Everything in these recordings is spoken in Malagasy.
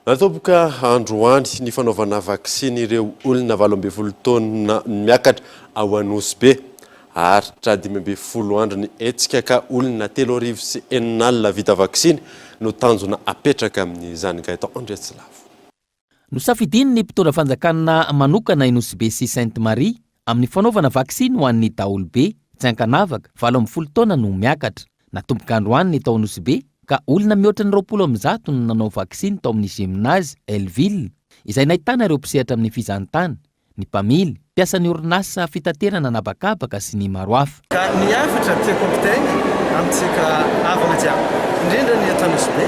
Natomboka androany ny fanaovana vaksiny ireo olona valo ambin'ny folo taona miakatra ao Anosibe. Haharitra dimy ambin'ny folo andro ny hetsika ka olona telo arivo sy enina alina vita vaksiny no tanjona apetraka amin'izany, Gaëtan Andriatsilavo. Nosafidian'ny mpitondra fanjakana manokana i Nosibe sy Sainte Marie Amin'ny fanaovana vaksiny ho an'ny daholobe tsy ankanavaka valo ambin'ny folo taona no miakatra. Natomboka androany ny tao Anosibe ka olona mihoatra ny roapolo amin'ny zato no nanao vaksiny tao amin'ny Gymnase Helleville izay nahitana ireo mpisehatra amin'ny fizahantany, ny mpamily, mpiasan'ny orinasa fitaterana an'habakabaka sy ny maro hafa. Ka ny hafatra tiako ampitaina amintsika havana jiaby, indrindra ny eto Anosibe,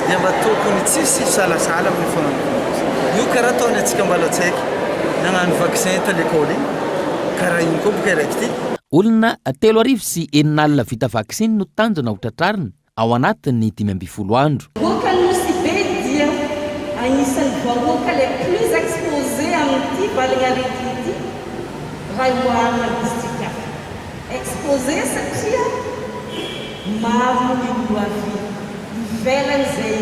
dia mba tokony tsy hisy hisalasala amin'io fanompoana io. Io karaha ataon'ny antsika Ambalatsaiky nagnano vaccin tany lekôly igny, karaha igny koa boka i Raiki ty. Olona telo arivo sy enina alina vita vaksiny no tanjona ho tratrarina ao anatin'ny dimy ambin'ny folo andro. Goaka Nosy Be dia agnisan'ny vahoaka les plus exposés amin'ity valin'aretina ity raha oharina amin'ny distrika hafa. Exposés satria maro ny olona avy ivelany izay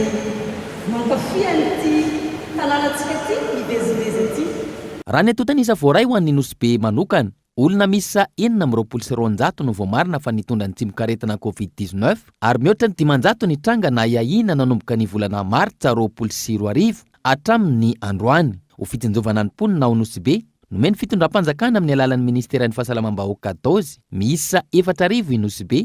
mankafy an'ity tanànantsika ity mivezivezy ity. Raha ny antontan'isa voaray ho an'ny Nosy Be manokana Olona miisa enina amby roapolo sy roanjato no voamarina fa nitondra ny tsimokaretina Covid dix-neuf ary mihoatra ny dimanjato ny tranga nahiahiana nanomboka ny volana martsa roapolo sy roa arivo hatramin' ny androany. Ho fitsinjovana ny mponina ao Nosy-Be, nomen'ny fitondram-panjakana amin'ny alalan'ny ministeran'ny Fahasalamam-bahoaka dozy miisa efatra arivo i Nosy-Be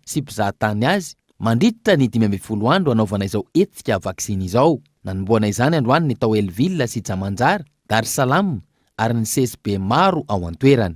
sy mpizaha tany azy mandritra ny dimy ambin'ny folo andro hanaovana izao hetsika vaksiny izao. Nanombohana izany androany ny tao El Villa sy Jamanjar, Dar Salam ary ny CSB maro ao an-toerana.